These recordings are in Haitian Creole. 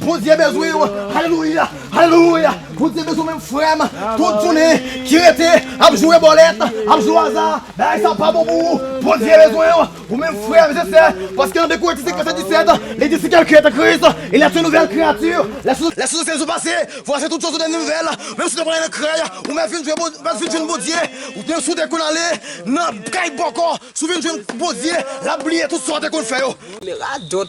Bondye bezwen w alelouya alelouya Bondye bezwen w menm frèm tout jounen ki rete ap jwe bòlèt ap jwe aza bagay sa pa bon pou ou Bondye bezwen w ou menm frèm je sè paske nan 2 Korinti 5 vèsè 17 li di si kèlken an Kris il est yon nouvèl kreyati lè chos ansyen yo pase vwasi tout chos tounen nouvèl menm si nou pa ale nan krèy ou mèt vin jwenn Bondye ou te si w te konn ale nan kay bòkò si w vin jwenn Bondye lap bliye tout sa w te konn fè yo. Li radot.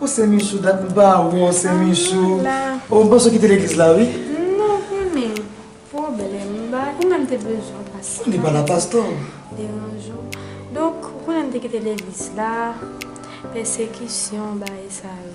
O se michou dat m pa wè w se michou O m panse w kite legliz la wi Non ou konnen pwoblèm m ba ou menm te bezwen w pastè Li pa la pastè w deranje w Donk ou konnen m te kite legliz la pèsekisyon bagay sa yo.